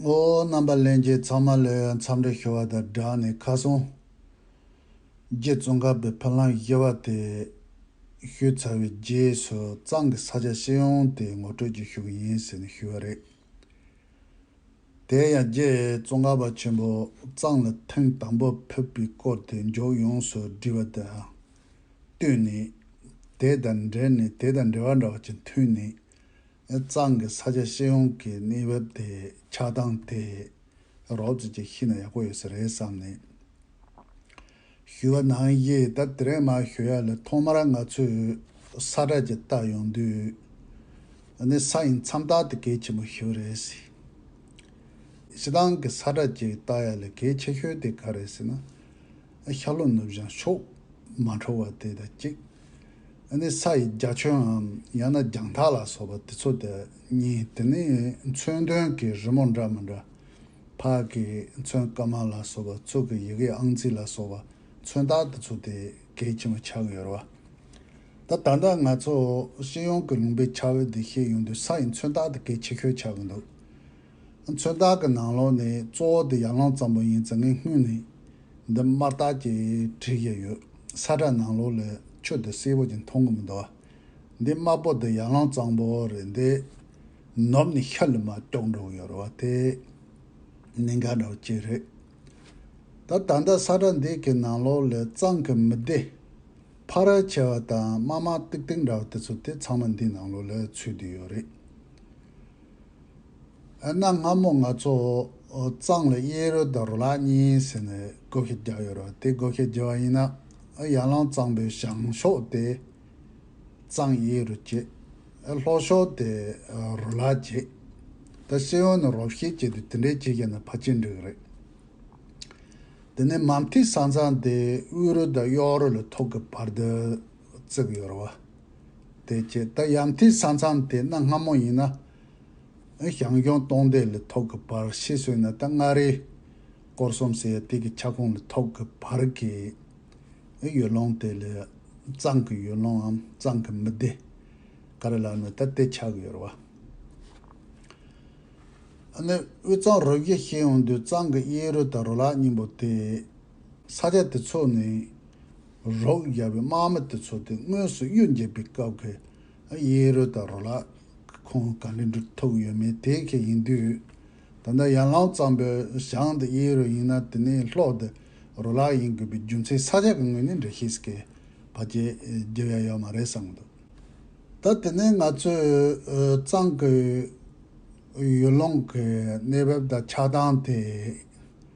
ངོ་བོ་རྣམ་པ་ལེན་རྗེས་ཚང་མ་ལོས་ཡོད་མཚམས་རེ་ཤོར་བ་དང་སྦྲགས་ནས་ཁ་སང། རྗེ་བཙུན་དགའ་བའི་ཕ་ལྷང་གཞས་བ་དེས་ཞུས་ཚར་བའི་རྗེས་སུ་གཙང་གི་ས་ཆ་ཤེས་ཡོང་དེ་ངོ་སྤྲོད་ཀྱི་ཞུ་གི་ཡིན་ཟེར་ནས་ཞུས་བ་རེད། དེ་ཡང་རྗེ་བཙུན་དགའ་བ་ཆེན་པོ་གཙང་ལ་ཐེངས་དང་པོ་ཕེབས་པའི་སྐོར་དེ་མཇུག་ཡོངས་སུ་འབྲི་བ་དང་བསྟུན་ནས། དེ་དང་འབྲེལ་ནས་དེ་དང་འབྲེལ་བ་འདྲ་བ་ཅིག་མཐུད་ནས་གཙང་གི་ས་ཆ་ཤེས་ཡོང་གི་གནས་བབ་དེ་ཆགས་སྟངས་དེ་རོབ་ཙེ་ཅིག་ཤི་ན་ཡག་པོ་ཡོད་ས་རེད་བསམ་ནས་ཞུས་བ་ནང་གཞི་ད་དེ་རིང་མ་ཞུ་ཡ་ལ་ཐོག་མར་ང་ཚོས་ས་བཀྲ་ཅིག་བཏགས་ཡོང་དུས་ནི་ས་ཡིན་མཚམས་བཏགས་དེ་གལ་ཆེན་པོ་ཞིག་རེད་ཟེར། ཤི་སྟངས་ཀྱི་ས་བཀྲ་ཅིག་བཏགས་ཡ་ལ་གལ་ཆེ་ཤོས་དེ་ག་རེད་ཟེར་ན། ཤར་ལྷོ་ནུབ་བྱང་ཕྱོགས་མ་འཕྲོ་བ་དེ་དང་གཅིག། ནི་ས་ཡི་རྒྱ་ཁྱོན་འམ་ཡང་ན་རྒྱང་ཐག་ལ་སོགས་པ་དེ་ཚོ་དེ་གཉིས་དེ་ནི་མཚོན་དོན་གྱི་རི་མོ་འདྲ་མི་འདྲ། ཕག་གིས་མཚོན་སྐར་མ་ལ་སོགས་པ་གཙུག་གི་ཡི་གེ་ཨང་རྩིས་ལ་སོགས་པ་མཚོན་རྟགས་དེ་ཚོ་དེ་གལ་ཆེན་པོ་ཆགས་ཡོད་ར་བ། ད་ལྟ་ང་ཚོ་ཤེས་ཡོན་གྱི་ལུང་པའི་འཆར་འོད་དེ་ཤེས་ཡོང་དུས་ས་ཡི་མཚོན་རྟགས་དེ་གལ་ཆེ་ཤོས་ཆགས་ཀྱི་འདུག། མཚོན་རྟགས་ཀྱི་ནང་ལོགས་ནས་གཙོ་བོ་དེ་ཡར་ལངས་ཙམ་པོ་ཡིན་ཙང་ངས་སྔོན་ནས་འདི་དམར་རྟགས་ཀྱིས་བྲིས་བཞིན་ཡོད། ས་བཀྲ་ནང་ལོགས་ལས་ཁྱོད་དེ་སེར་བོ་ཅིག་མཐོང་གི་མི་འདུག་ཨ། འདི་དམར་པོ་དེ་ཡར་ལངས་ཙང་པོ་རེད་འདི། ནུབ་ནས་ཤར་ལ་མ་ལྕོགས་འགྲོ་གི་ཡོད་རེད་བ་དེ། གནད་འགག་འདྲ་བོ་ཅིག་རེད། ད་ད་ལྟ་ས་བཀྲ་འདི་གི་ནང་ལོགས་ལས་གཙང་གི་མི་བདེ། ཕ་རལ་ཆེ་བ་དང་དམར་དམར་ཏིག་ཏིག་འདྲ་བ་དེ་ཚོ་དེ་ཚང་མ་འདིའི་ནང་ལོགས་ལས་ཚུད་དུ་ཡོད་རེད། ཨ་ན་སྔ་མོ་ང་ཚོ་གཙང་ལ་གཡས་རུ་དང་རུ་ལག་གཉིས་ཟེར་ནས་སྒོ་ཁེ་རྒྱག་ཡོད་ར་དེ་སྒོ་ཁེ་རྒྱག་བ་ཡིན་ན་ཨ་ཡར་ལང་གཙང་པོའི་བྱང་ཕྱོགས་དེ་གཙང་གཡས་རུ་བྱེད་ཨ་ལྷོ་ཕྱོགས་དེ་རུ་ལག་བྱེད་ད་སེ་ཡོན་ནི་རོགས་ཤེས་བྱེད་དུ་དེ་འདྲས་བྱེད་མཁན་ནི་ཕ་ཆེ་འགྲིག་རེད། དེ་ནས་མམ་ཐིག་ས་མཚམས་དེ་དབུས་རུ་དང་གཡོག་རུ་ལ་ཐོག་གི་བར་དུ། བརྩེགས་ཡོར་བ། དེ་བཅས་ད་ཡང་ཐིག་ས་མཚམས་དེ་གནའ་སྔ་མོ་ཡིན་ན། ཞང་ལྗོངས་སྟོང་སྡེ་ལི་ཐོག་གི་བར་ཤེས་སོས་ན་ད་མངའ་རིས་སྐོར་གསུམ་ཟེར་ཡ་ཐིག་གི་ཁྱབ་ཁོངས་ལི་ཐོག་གི་བར་གྱི་ཡུལ་ལུང་དེ་ལས་གཙང་གི་ཡུལ་ལུངའམ་གཙང་གི་མི་སྡེ་ག་རེ་ལགས་ན་ད་དེ་ཆགས་ཡོར་བ། ནི་དབུས་གཙང་རུ་བཞི་ཤེས་ཡོང་དུས་གཙང་གི་གཡས་རུ་ད་རུ་ལག་སྙིང་པོ་དེ་ས་སྐྱ་དེ་ཚོ་ནི་རོགས་རྒྱ་བའི་དམག་མི་དེ་ཚོ་སྟེ་དངོས་སུ་གཡུལ་འགྱེད་པའི་སྐབས་ཀྱི་གཡས་རུ་དང་རོ་ལག་གི་ཁོངས་ག་ལེར་འདྲུད་ཐུབ་ཡོད་མེད་དེ་ག་ཡིན་དུས། ད་ལྟ་ཡར་ལངས་གཙང་པོའི་ཞང་དེ་གཡས་རུ་ཡིན་ན་དེ་ནི་ལྷོ་དེ་རོ་ལག་ཡིན་དགོས་པའི་རྒྱུ་མཚན་ས་སྐྱ་གི་ངོས་ནས་འགྲེལ་བཤད་སྐལ་བ་བརྒྱད་བརྒྱ་ཡང་ཡོད་མ་རེད་བསམ་གི་འདུག་ད་དེ་ནི་ང་ཚོའི་གཙང་གི་ཡུལ་ལུང་གི་གནས་བབ་དང་ཆགས་སྟངས་དེ་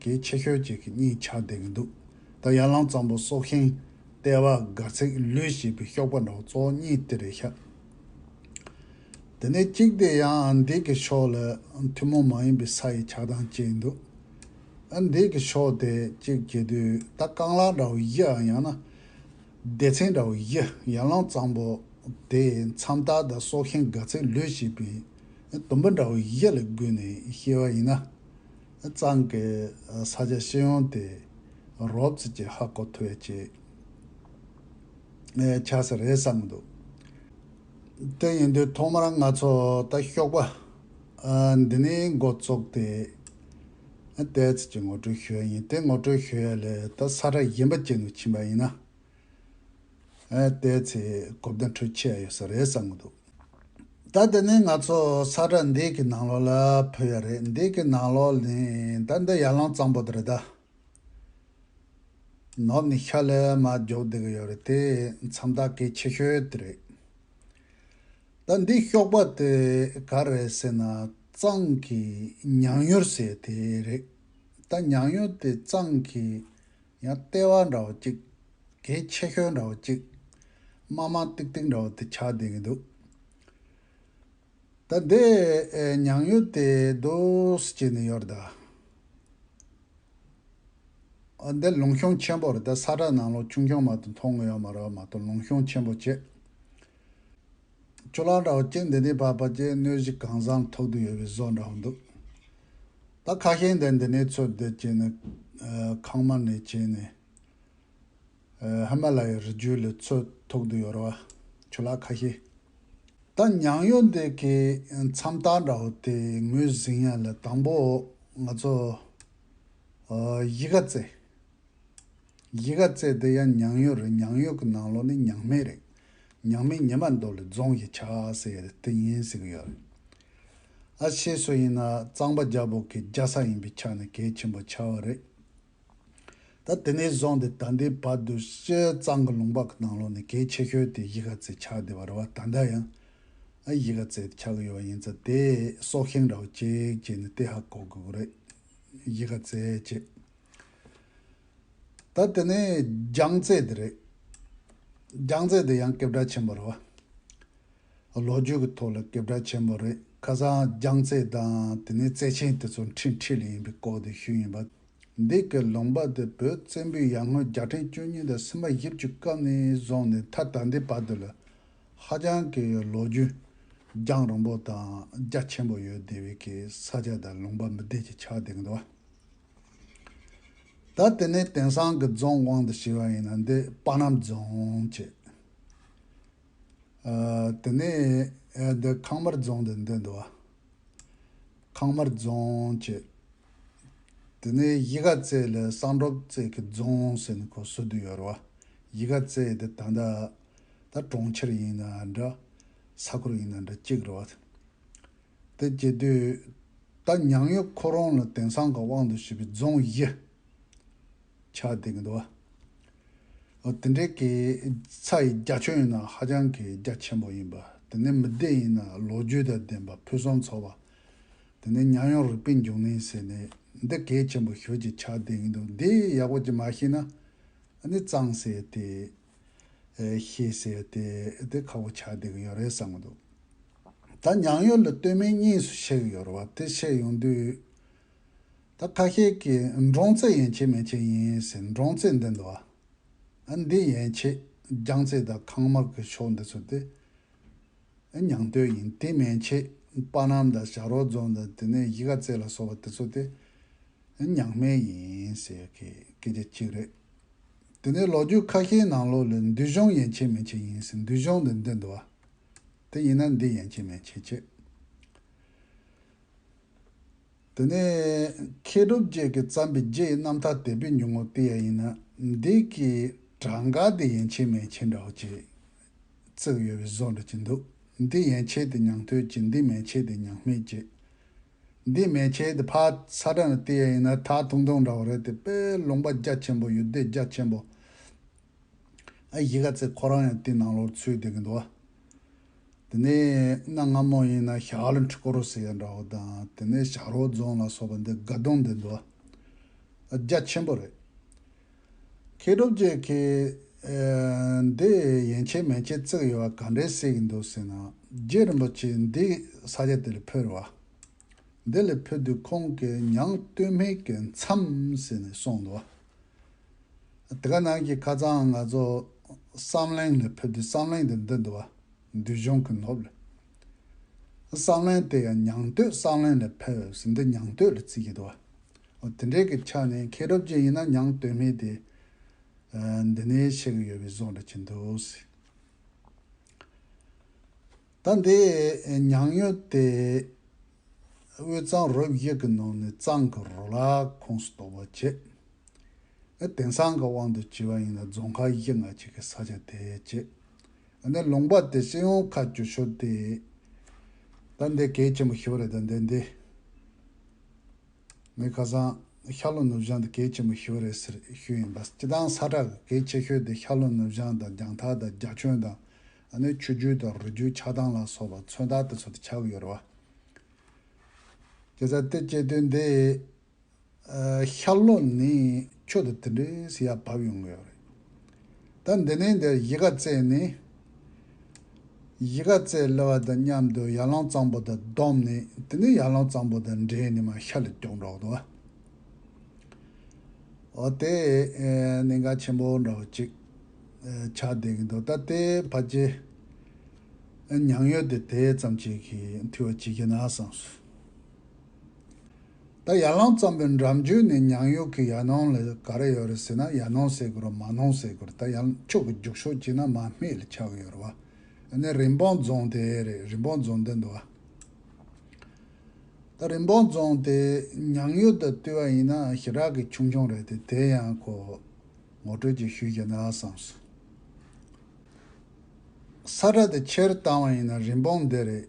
གལ་ཆེ་ཤོས་གཅིག་གི་གཉིས་ཆགས་བསྡད་ཀྱི་འདུག་ད་ཡར་ལངས་གཙང་པོ་སྲོག་ཤིང་ལྟེ་བ་སྒར་ཚིག་ལུས་ཞེས་པའི་ཤོག་པ་འདྲ་བོ་གཙོ་བོ་གཉིས་དེ་རེད་ཤག་དེ་ནས་གཅིག་དེ་ཡང་འདི་གི་ཕྱོགས་ལ་ཐུན་མོང་མ་ཡིན་པའི་ས་ཡི་ཆགས་སྟངས་སྐྱེས་ཡིན་འདུག་ཨ་འདི་གི་ཕྱོགས་དེ་གཅིག་བྱེད་དུས་ད་རྐང་ལག་འདྲ་བོ་བཞི་ཨ་ཡང་ན་སྡེ་ཚན་འདྲ་བོ་བཞི་ཡར་ལངས་གཙང་པོ་དེ་མཚམས་ད་ལྟ་སྲོག་ཤིང་སྒར་ཚིག་ལུས་ཞེས་པའི་དུམ་བུ་འདྲ་བོ་བཞི་ལ་བསྒུལ་ནས་ཤི་བ་ཡིན་ན། གཙང་གི་ས་ཆ་ཤེས་ཡོང་དེ་རོབ་རྩིས་ཀྱི་ཧ་གོ་ཐོས་ཅིག་ཆགས་ས་རེད་བསམ་གྱི་འདུག་དེ་ཡིན་དུས་ཐོག་མར་ང་ཚོ་ད་ཤོག་པ་འདི་ནས་འགོ་བཙུགས་ཏེ་དེའི་རྩིས་ཀྱི་ངོ་སྤྲོད་ཞུ་ཡ་ཡིན་དེ་ངོ་སྤྲོད་ཞུ་ཡ་ལས་ད་ས་ཁྲ་གཞན་པ་བྱེད་དུ་ཕྱིན་པ་ཡིན་ན། བལྟས་ཚེ་གོ་བརྡ་འཕྲུལ་ཆས་ཡོད་ས་རེད་བསམ་གྱི་འདུག་ད་དེ་ནས་ང་ཚོ་ས་བཀྲ་འདི་གི་ནང་ལོགས་ལ་བུད་ཡ་རེད་འདི་གི་ནང་ལོགས་ནི་ད་འདི་ཡར་ལངས་གཙང་པོ་དེ་རེད་ད། ནོར་ནི་ཤ་ལས་མ་རྒྱོབ་བསྡད་ཀྱི་ཡོད་རེད་དེ་མཚམས་ད་གེ་ཆེ་ཤོས་དེ་རེད། ད་འདི་གཤོག་པ་དེ་ག་རེད་ཟེར་ན་གཙང་གི་ཉང་ཡོར་ཟེར་དེ་རེད་ད་ཉང་ཡོར་དེ་གཙང་གི་ཡང་ལྟེ་བ་འདྲ་བ་གཅིག། དེའི་ཕྱེད་ཤོལ་འདྲ་བ་གཅིག། དམར་དམར་ཏིག་ཏིག་འདྲ་བ་དེ་ཆགས་བསྡད་ཀྱི་འདུག། ད་དེ་མྱང་ཡུལ་དེ་སྡོས་བྱས་ནས་ཡོད་ད། འདི་ལུང་གཤོང་ཆེན་པོ་རེད་ད་ས་བཀྲ་ནང་ལོགས་ཆུང་ཆུང་མ་གཏོགས་མཐོང་ཡོད་མ་རེད་བ་མ་གཏོགས་ལུང་གཤོང་ཆེན་པོ་བྱས། ཁྱོད་རང་འདྲ་བ་སྐྱེ་འདི་ནས་བར་བར་གྱི་གནོད་གཞི་གང་བཟང་ཐོག་ཏུ་ཡོད་པའི་བཟོ་འདྲ་བོ་འདུག་ད་ཁ་ཞེང་དེ་འདི་ནས་ཚོད་ལྟ་བྱས་ནས་ཁང་མ་ནས་བྱས་ནས་ཧི་མ་ལ་ཡའི་རི་རྒྱུད་ལ་ཚོད་ཐོག་ཏུ་ཡོད་ར་བ་ཁྱོད་ལ་ཁ་ཞེ། ད་ཉང་ཡོ་འདི་གི་མཚམས་རྟགས་འདྲ་བོ་དེ་ངོས་ཟིན་ཡ་ལ་དང་པོ་ང་ཚོ་ཡི་ག་རྩེ། ཡི་ག་བཙལ་དེ་ཡང་མྱང་ཡོད་རེད་མྱང་ཡོད་ཀྱི་ནང་ལོགས་ནི་མྱང་སྨད་རེད། མྱང་སྨད་ཉི་མ་མདོ་ལས་རྫོང་ཞིག་ཆགས་ཟེར་ཡོད་དེ་ཡིན་ཟེར་གྱི་ཡོད་རེད། ཨ་ཕྱི་སུ་ཡིན་ན་གཙང་པ་རྒྱ་བོད་ཀྱི་རྒྱ་ས་ཡིན་པའི་ཆ་ནས་གལ་ཆེན་པོ་ཆགས་བ་རེད། ད་དེ་ནས་བཟུང་སྟེ་ད་ལྟའི་བར་དུ་སྤྱིར་གཙང་གི་ལུང་པ་ཀྱི་ནང་ལོགས་ནས་གལ་ཆེ་ཤོས་དེ་ཡི་ག་བཙལ་ཆགས་བསྡད་པ་རེད་བ་ད་ལྟ་ཡང་ཨ་ཡི་ག་བཙལ་དེ་ཆགས་ཀྱི་ཡོད་བ་ཡིན་ཙང་དེ་སྲོག་ཤིང་ར་བ་གཅིག་བྱས་ནས་དེ་ཧ་གོ་དགོས་ཀྱི་རེད། ཡི་ག་བཙལ་བྱེད། ད་དེ་ནས་རྒྱང་རྩེ་དེ་རེད། རྒྱང་རྩེ་དེ་ཡང་སྐད་གྲགས་ཆེན་པོ་རེད་བ། ལོ་རྒྱུས་ཀྱི་ཐོག་ལ་སྐད་གྲགས་ཆེན་པོ་རེད་ཁ་སང་རྒྱང་རྩེ་དང་དེ་ནས་རྩེ་ཆེན་དེ་ཚོ་འཕྲིན་ཁྲིད་ལ་ཡིན་པའི་སྐོར་དེ་ཞུས་ཡིན་པ། འདི་གའི་ལུང་པ་དེ་བོད་བཙན་པོའི་ཡར་སྔོན་བརྒྱ་ཕྲན་བཅུ་གཉིས་དང་སུམ་པ་བཞི་བཅུ་སྐབས་ནས་བཟུང་ནས་མཐའ་ད་ལྟའི་བར་དུ་ལ་ཧ་ཅང་གི་ལོ་རྒྱུས་རྒྱང་རིང་པོ་དང་རྒྱ་ཆེན་པོ་ཡོད་དེ་བས་ཀྱི་ས་ཆ་དང་ལུང་པ་མི་སྡེ་གྱི་ཆགས་སྡེ་གི་འདུ་བ། ད་དེ་ནས་དེང་སང་གི་རྫོང་དབང་དུ་བྱས་པ་ཡིན་ན་འདི་དཔའ་རྣམ་རྫོང་ཅེས། དེ་ནས་འདི་ཁང་དམར་རྫོང་དུ་འདོད་འདུག་ཨ། ཁང་དམར་རྫོང་ཅེས། དེ་ནས་གཞིས་ཀ་རྩེ་ལ་གསང་སྒྲོག་རྩེ་གི་རྫོང་ཟེར་ནས་ཁོ་སུ་དུ་ཡོད་རུང་ཨ། གཞིས་ཀ་རྩེ་འདི་ད་ལྟ་ད་གྲོང་ཁྱེར་ཡིན་ན་འདྲ། ས་ཁུལ་ཡིན་ན་འདྲ་གཅིག་རུང་ཨ། དེ་སྐྱེས་དུས། ད་མྱང་གཡོ་ཁོ་རང་ལ་དེང་སང་གི་དབང་དུ་བྱས་པའི་རྫོང་བཞི། ཆགས་འདུག་གདའ། འོ་དེ་འདྲའི་གི་ཚ་ཡི་རྒྱ་ཁྱོད་ཡིན་ན་ཧ་ཅང་གི་རྒྱ་ཆེན་པོ་ཡིན་པ་དེ་ནས་མི་བདེ་ཡིན་ན་ལོ་རྒྱུས་དང་ལྡན་པ་ཕུན་སུམ་ཚོགས་པ་དེ་ནས་མྱང་གཡོ་རིག་པའི་འབྱུང་གནས་ཟེར་ནས་འདི་གལ་ཆེན་པོ་ཤོད་ཀྱི་ཆགས་འདུག་འདི་ཡག་པོ་ཅིག་མ་ཤེས་ན་འདི་གཙང་སེ་དེ། ཞེས་ཟེར་ཏེ་དེ་ཁ་བོ་ཆགས་བསྡད་ཀྱི་ཡོད་རེད་བསམ་གྱི་འདུག་ད་མྱང་ཡོད་ལ་སྟོད་སྨད་གཉིས་སུ་ཕྱེ་གི་ཡོད་རེད་བ་དེ་ཕྱེ་ཡོང་དུས་ད་ཁ་ཤས་ཀྱིས་འབྲོང་རྩེད་ཡན་ཆད་མན་ཆད་ཡིན་ཟེར་འབྲོང་རྩེད་འདི་འདུག་ཨ་འདི་ཡན་ཆད་རྒྱང་རྩེད་དང་ཁང་དམར་གྱི་ཕྱོགས་འདི་ཚོ་དེ་མྱང་སྟོད་ཡིན་དེ་མན་ཆད་དཔའ་རྣམ་དང་ཞག་རོག་རྫོང་དང་དེ་ནས་གཞིས་ཀ་རྩེ་ལ་སོགས་པ་དེ་ཚོ་དེ་མྱང་སྨད་ཡིན་ཟེར་གྱི་སྐད་ཆ་གཅིག་རེད་དེ་ནས་ལོ་རྒྱུས་ཁ་ཤས་ནང་ལོ་ལས་འདུལ་གཞུང་ཡན་ཆད་མན་ཆད་ཡིན་ཟེར་འདུལ་གཞུང་འདི་འདི་འདུལ་བ་དེ་ཡིན་ན་འདི་ཡན་ཆད་མན་ཆད་ཅེས། དེ་ནས་མཁས་གྲུབ་བརྒྱད་ཀྱིས་བརྩམས་པའི་རྗེ་ཡི་རྣམ་ཐར་དད་པའི་ཉུང་ངུ་དེ་ཡང་ཡིན་ན་འདི་ཀྱི་གྲངས་ཀ་དེ་ཡན་ཆད་མན་ཆད་འདྲའོ་ཅེས་བརྩེགས་ཡོད་པའི་བཟོ་འདྲ་གྱི་འདུག་འདི་ཡན་ཆད་དེ་མྱང་ཐོས་ཀྱི་འདི་མན་ཆད་དེ་མྱང་སྨད་ཀྱི་འདི་མེ་ཁྱེར་དེ་ཕག་ཚ་སྒྲ་ནི་ཏི་ཡ་ཡིན་ན་ཐག་ཐུང་ཐུང་འདྲ་བོ་རེད་དེ་པས་ལུང་པ་རྒྱ་ཆེན་པོ་ཡོད་དེ་རྒྱ་ཆེན་པོ་ཨ་གཞི་ག་ཚེ་ཁོ་རང་ཡང་དེ་ནང་ལོག་ཚུད་བསྡད་གི་འདུག་བ། དེ་ནས་གནའ་སྔ་མོ་ཡིན་ན་ཞྭ་ལ་འཁྲིག་ཀོ་རོ་ཟེར་ཡ་འདྲ་བོ་དང་དེ་ནས་ཞྭ་རོ་རྫོང་ལ་སོགས་པ་འདི་དགའ་གདོང་བསྡད་འདུག་བ། རྒྱ་ཆེན་པོ་རེད། མཁས་གྲུབ་རྒྱལ་ཁྱེད། འདི་ཡན་ཆད་མན་ཆད་བརྩེགས་ཡོད་པ་ག་འདྲའི་གསལ་གྱི་འདུག་ཟེར་ན། རྗེ་རིན་པོ་ཆེས་འདི་ས་ཆ་དེ་ལས་འཕུར་བ། འདི་ལས་འཕུར་དུས་ཁོང་གིས་ཉང་སྟོད་སྨད་ཀྱི་མཚམས་ཟེར་ནས་གསུངས་འདུག། དེ་ག་ནང་གི་ཁ་ཚའང་ང་ཚོ་བསམ་གླིང་ལས་འཕུར་དུས་བསམ་གླིང་དུ་འདི་འདུག་བ། འདུལ་གཞུང་གི་ནོར་བུ་ལས། བསམ་གླིང་དེ་ཡང་ཉང་སྟོད་བསམ་གླིང་ལས་འཕུར་བས་འདི་ཉང་སྟོད་ལ་བརྩི་གི་འདུག་བ། དེ་འདྲའི་གི་ཆ་ནས་མཁས་གྲུབ་ཅན་ཡིན་ན་མྱང་དོན་མེད་དེ། འདི་ནས་ཆེ་གི་ཡོད་པའི་བཟོ་འདྲ་གྱིན་འདུག། ད་འདི་མྱང་ཡོད་དེ། དབུས་གཙང་རུ་བཞི་གི་ནང་ནས་གཙང་གི་རུ་ལག་ཁོངས་སུ་གཏོགས་པ་བཅས། ཨ་དེང་སང་གི་དབང་དུ་བྱས་པ་ཡིན་ལ་རྫོང་མཁར་གཞི་ལྔ་གཅིག་གི་ས་ཆ་དེ་བཅས། ཨ་ནི་ལུང་པ་དེ་སྤྱི་ཡོངས་ཁ་བསྒྱུར་ཞོར་དེ། ད་འདི་གལ་ཆེན་པོ་ཞིག་རེད་ད་འདི་འདི། མོས་ཁ་སང། ཤར་ལྷོ་ནུབ་བྱང་དུ་གེགས་ཆེན་པོ་ཞོ་རེད་ཟེར་ཤོས་ཡིན་པ་སྤྱི་དང་ས་ཁྲ་གི་གེགས་ཆེ་ཤོས་དེ་ཤར་ལྷོ་ནུབ་བྱང་དང་རྒྱང་ཐག་དང་རྒྱ་ཁྱོན་དང། ཨ་ནུའི་ཆུ་རྒྱུད་དང་རུ་རྒྱུད་ཆགས་སྟངས་ལ་སོགས་པ་མཚོན་རྟགས་དེ་ཚོ་དེ་ཆགས་ཀྱི་ཡོད་རེད་བ། སྐད་ཆ་དེ་སྐྱེལ་དོན་དེ། ཤར་ལྷོ་ནི་ཆུ་དང་དེ་འདྲའི་སི་ཡ་བབས་ཡོང་གི་ཡོད་རེད། ད་འདི་ནས་འདིར་གཞིས་ཀ་རྩེ་ནས། གཞིས་ཀ་རྩེ་གློ་བ་དང་མཉམ་དུ་ཡར་ལངས་གཙང་པོ་དང་བསྡོམས་ནས་དེ་ནས་ཡར་ལངས་གཙང་པོ་དང་འདྲེས་ནས་མ་ཤར་ལ་ཀྱོག་འགྲོ་འདུག་ཨ། འོ་དེ་ནི་འགའ་ཆེན་པོ་འདྲ་བོ་ཅིག་ཆགས་བསྡད་ཀྱི་འདུག་ད་ལྟའི་བར་གྱི་མྱང་ཡོད་དེ་དེ་ཙམ་ཅིག་གིས་འཐུས་བ་ཇི་བགྱིས་ན་བཟང། ད་ཡར་ལངས་ཙམ་པོའི་འགྲམ་རྒྱུད་ནས་ཉང་ཡུག་གི་ཡར་སྣང་ལ་ག་རེ་ཡོད་རེད་ཟེར་ན་ཡར་སྣང་ཟེར་གི་རོ་མར་སྣང་ཟེར་གི་རོ་ད་ཡང་ཕྱོགས་ཀྱི་རྒྱུགས་ཤོག་གྱིས་ན་མར་མེ་ལ་ཆགས་གི་ཡོད་རེད་བ། འདི་ནི་རིན་སྤུངས་རྫོང་དེ་རེད་རིན་སྤུངས་རྫོང་འདི་འདུག་བ། ད་རིན་སྤུངས་རྫོང་དེ་ཉང་ཡུག་དང་བསྟུན་བ་ཡིན་ན་ཞེ་དྲག་གི་ཆུང་ཆུང་རེད་དེ་དེ་ཡང་ཁོ་ངོ་སྤྲོད་ཅིག་ཞུས་ཀྱི་ན་བསམ་སོང། ས་ཁྲ་དེ་ཕྱིར་བཏང་བ་ཡིན་ན་རིན་སྤུངས་འདི་རེད་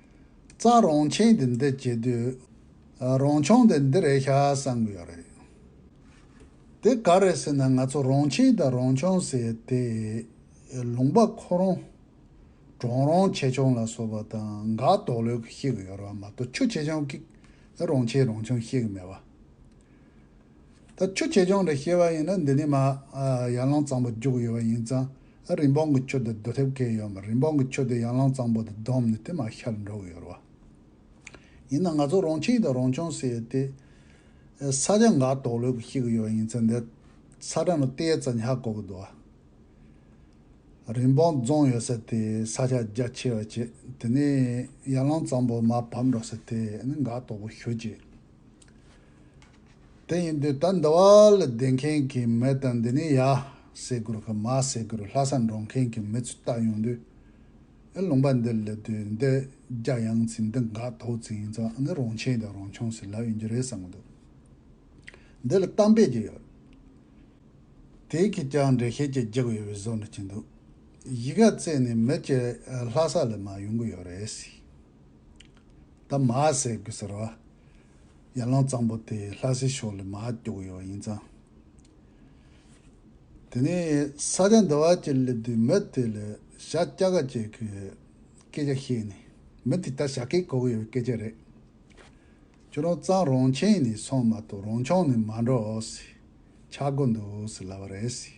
རྩ་རོང་ཆེན་དེ་འདི་བྱེད་དུས། རོང་ཆུང་དེ་འདི་རེད་ཤག་བསམ་གི་ཡོད་རེད། དེ་ག་རེད་ཟེར་ན་ང་ཚོ་རོང་ཆེན་དང་རོང་ཆུང་ཟེར་དེ། ལུང་པ་ཁོ་རོང། གྲོང་རོང་ཆེ་ཆུང་ལ་སོགས་པ་དང་འགག་དོགས་ལོས་ཀྱི་ཤེས་གི་ཡོད་རེད་བ་མ་གཏོགས་ཆུ་ཆེ་ཆུང་གིས་རོང་ཆེན་རོང་ཆུང་ཤེས་གི་མེད་བ། ད་ཆུ་ཆེ་ཆུང་རེད་ཤེས་བ་ཡིན་ན་འདི་ནས་མ་ཡར་ལངས་གཙང་པོ་རྒྱུག་གི་ཡོད་བ་ཡིན་ཙང། ཨ་རིན་པོང་གི་ཁྱོ་དེ་སྡོད་ཐེབས་མཁན་ཡོད་མ་རེད་འབོང་གི་ཁྱོ་དེ་ཡང་ལང་གཙང་པོ་དེ་བསྡོམས་ནས་དེ་མ་ཤར་འགྲོ་གི་ཡོད་རེད་བ། ཡིན་ན་ང་ཚོ་རོང་ཁྱིང་དང་རོང་ཆུང་ཟེར་ཡོད་དེ། ས་ཆ་འགའ་དོགས་ལོས་ཀྱི་ཤེས་ཀྱི་ཡོད་ཡིན་ཚེ་འདི་ས་ཁྲ་ནི་རྟའི་རྩ་ཉག་གོ་གི་འདུག་ཨ། རིན་པོང་རྫོང་ཡོད་ས་དེ་ས་ཆ་རྒྱ་ཆེ་བ་བྱེད་དེ་ནས་ཡར་ལང་གཙང་པོ་མ་བབས་འགྲོ་ས་དེ་ནི་འགའ་དོགས་པོ་ཞུ་བྱེད། དེ་ཡིན་དུས་ད་ཟླ་བ་ལ་བསྡད་མཁན་གྱི་མི་དང་འདི་ནས་ཡ་ཟེར་དགོས་གི་མ་ཟེར་དགོས་ལྷ་སར་འགྲོ་མཁན་གྱི་མི་ཚོས་བལྟ་ཡོང་དུས། ཨེ་ལུང་པ་འདི་སླེབས་དུས་འདི་རྒྱ་ཡངས་ཚིག་འདི་འགག་ཐོག་ཚིག་ཡིན་ཙང་ཨ་ནི་རང་ཆེན་དང་རང་ཆུང་ཟེར་ལབ་ཡོང་རྒྱུ་རེད་བསམ་གྱི་འདུག་འདི་ལ་གཏམ་དཔེ་ཅིག་ཡོད་དེའི་ཁྱེད་ཅག་འགྲེལ་བཤད་ཅིག་རྒྱག་ཡོད་པའི་བཟོ་འདྲ་གྱི་འདུག་གཞིས་ཀ་རྩེ་ནས་མི་གཅིག་ལྷ་ས་ལ་མ་ཡོང་གི་ཡོད་རེད། ད་མ་ཟེར་དགོས་ཟེར་བ། ཡར་ལངས་གཙང་པོ་དེ་ལྷ་སའི་ཕྱོགས་ལས་མ་སྐྱོ་གི་ཡོད་ཡིན་ཙང། དེ་ནས་ས་སྐྱ་འདི་བ་ཅེར་སླེབས་དུས་མི་དེ་ལ་ཞྭ་སྐྱ་ག་ཅིག་གི་སྐད་ཆ་བཤད་ནས་མི་དེ་ལྟར་ཞྭ་སྐད་གོ་གི་ཡོད་པའི་སྐད་ཆ་རེད། ཁྱོད་རང་གཙང་རང་ཁྱིམ་ནས་སོང་མ་གཏོགས་རང་ཆང་ནས་མ་འགྲོ་ཟེར། ཆག་སྒོ་འདུག་ཟེར་ལབ་པ་རེད་ཟེར།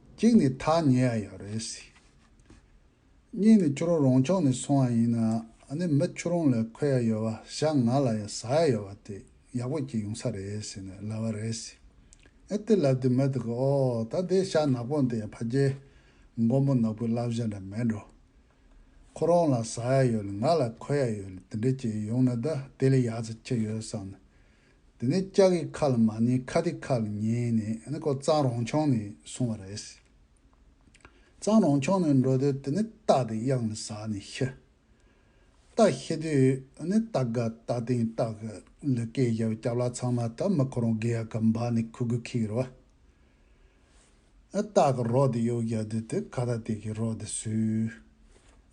གཅིག་ནི་ཐག་ཉེ་ཡ་ཡང་རེད་སྲིད། གཉིས་ནི་ཁྱོད་རང་རང་ཕྱོགས་ནས་སོང་བ་ཡིན་ན་ནི་མི་ཁྱོད་རང་ལ་འཁོད་ཡ་ཡོད་བ་བཞག་ང་ལ་ཡང་ཟ་ཡ་ཡོད་བ་དེ་ཡག་པོ་སྐྱེ་ཡོང་ས་རེད་ཟེར་ནས་ལབ་བ་རེད་སྲིད། ཨེ་དེ་ལབ་དུས་མི་དེ་གིས་ཨོ་ད་དེ་ཤ་ནག་པོ་འདི་ཡང་ཕ་རྒྱལ། མགོན་པོ་ནག་པོའི་བསླབ་བྱ་འདྲ་མེད་འགྲོ། ཁོ་རང་ལ་ཟ་ཡ་ཡོད་ལ་ང་ལ་འཁོད་ཡ་ཡོད་ལ་དེ་འདྲ་སྐྱེ་ཡོང་ན་ད་དེ་ལས་ཡག་ཙི་ཅི་ཡོད་བསམ་ནས་དེ་ནས་ལྕགས་ཀྱི་ཁ་ལ་མ་ཉེས་ཁ་སྡིག་ཁ་ལ་ཉེས་ནས་ཨ་ནི་ཀོ་གཙང་རོང་ཆུང་ནས་སོང་བ་རེད། གཙང་རོང་ཆུང་ནས་འགྲོ་དུས་དེ་ནི་སྟག་དེ་གཡང་ལ་ཟགས་ནས་ཤི། སྟག་ཤི་དུས་ཨ་ནི་སྟག་དགའ་སྟག་སྟེང་སྟག་གི་ལུས་སྐེ་བཞར་བའི་སྐྱབས་ལག་ཚང་མ་དག་མི་ཁོ་རང་དགེ་ཡག་གི་འབག་ནས་ཁུ་དགུ་ཁིག་རོ། སྟག་གི་རོ་དེ་གཡོག་རྒྱག་དུས་དེ་ཁ་ད་དེ་གི་རོ་དེ་སུས།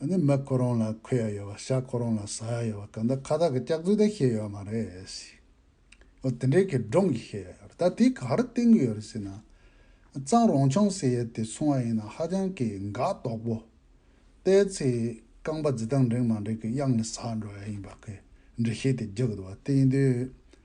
ནི་མི་ཁོ་རང་ལ་ཁོལ་ཡ་ཡོད་པ་ཤ་ཁོ་རང་ལ་ཟ་ཡ་ཡོད་པ་གང་ད་ཁ་ད་གི་སྐྱག་རྫུན་དེ་ཤེས་ཡོད་མ་རེད་ཟེར། ཨོ་དེ་འདྲའི་གི་སྒྲོམ་གི་ཤེས་ཡ་ཡོད་རེད་ད་དེ་ག་རེ་བསྟན་གི་ཡོད་རེད་ཟེར་ན། གཙང་རོང་ཆང་ཟེར་ཡ་དེ་ཚོང་བ་ཡིན་ན་ཧ་ཅང་གི་འགག་དོག་པོ། བལྟས་ཚེ་རྐང་པ་རྫི་སྟངས་འགྲིག་མ་འགྲིག་གི་གཡག་ནི་ཟགས་འགྲོ་ཡ་ཡིན་པ་གི་འདྲི་ཤེས་དེ་རྒྱག་གི་འདུག་བ་བསྟན་དུས།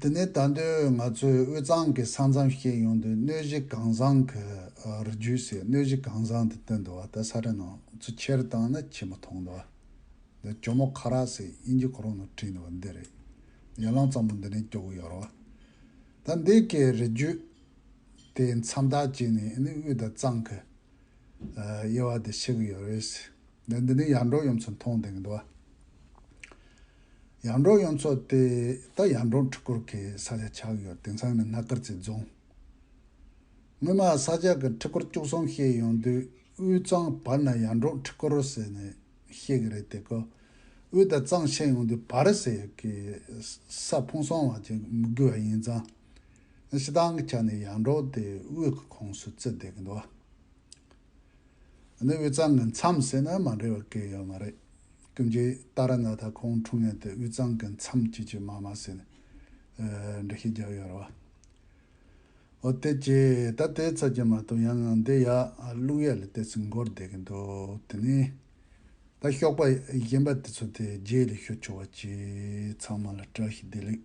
དེ་ནས་ད་དུས་ང་ཚོས་དབུས་གཙང་གི་ས་མཚམས་བཤད་ཡོང་དུས་གནོད་གཞི་གང་བཟང་གི་རུ་རྒྱུད་ཟེར་གནོད་གཞི་གང་བཟང་དུ་བཏོན་འདུག་བ་ད་ས་ར་ནང་ཚུ་ཁྱེར་བཏང་ན་ཁྱི་མོ་མཐོང་འདུག་བ་ད་གྱོ་མོ་ཁ་རག་ཟེར་དབྱིན་ཇི་གོ་རོང་ནང་བྲིས་འདུག་བ་འདི་རེད་ཡར་ལངས་ཙམ་པོ་འདི་ནས་སྐྱོ་གི་ཡོད་རོགས་བ་ད་འདི་གི་རུ་རྒྱུད་དེའི་མཚམས་ཐག་གཅིག་ནས་ཨི་ནི་དབུས་དང་གཙང་གི་དབྱེ་བ་དེ་ཤེས་གི་ཡོད་རེད་ཟེར་ད་འདི་ནས་ཡར་འགྲོ་ཡོང་ཚུ་མཐོང་བསྡད་གི་འདུག་བ། ཡར་འབྲོག་གཡུ་མཚོ་སྟེ་ད་ཡར་འབྲོག་འཕྲུལ་འཁོར་གྱི་ས་ཆ་ཆགས་ཡོད་དེང་སང་ནི་སྔ་ཀར་རྩེ་རྫོང། སྔོན་མ་ས་ཆ་གི་འཕྲུལ་འཁོར་བཅུ་གསུམ་ཤེས་ཡོང་དུས་དབུས་གཙང་བར་ན་ཡར་འབྲོག་འཕྲུལ་འཁོར་ཟེར་ནས་ཤེས་ཀྱི་རེད་དེ་གོ། དབུས་དང་གཙང་ཕྱེད་ཡོང་དུས་བར་ཟེར་གི་ས་ཕུང་སོང་བ་ཅིག་མི་དགོས་པ་ཡིན་ཙང། ཕྱི་ཐང་གི་ཆ་ནས་ཡར་འབྲོག་དེ་དབུས་ཀྱི་ཁོངས་སུ་བརྩི་བསྡད་ཀྱི་འདུག་བ། ནི་དབུས་གཙང་གི་མཚམས་ཟེར་ན་མ་འགྲིག་བ་སྐད་ཡོད་མ་རེད། ཀུན་གྱིས་ཏཱ་ར་ནཱ་ཐ་ཁོང་འཁྲུངས་ཉིན་དེ་དབུས་གཙང་གི་མཚམས་སྐྱིད་ཀྱི་མ་མ་ཟེར་ནས་འབྲི་ཤེས་རྒྱག་ཡོད་རེད་བ། ཨོ་དེ་ཅེས་ད་ལྟའི་ཚར་གྱི་མ་གཏོགས་ཡང་ངང་འདི་ཡག་རླུང་ཡག་ལ་ལྟས་ཚོད་མགོར་བསྡད་ཀྱི་འདུག་དེ་ནས་ད་ཤོག་པ་གཞན་པ་དེ་ཚོ་དེ་རྗེས་ལས་ཤོད་ཆོག་བ་གཅིག་ཚང་མ་ལ་བཀྲ་ཤིས་བདེ་ལེགས།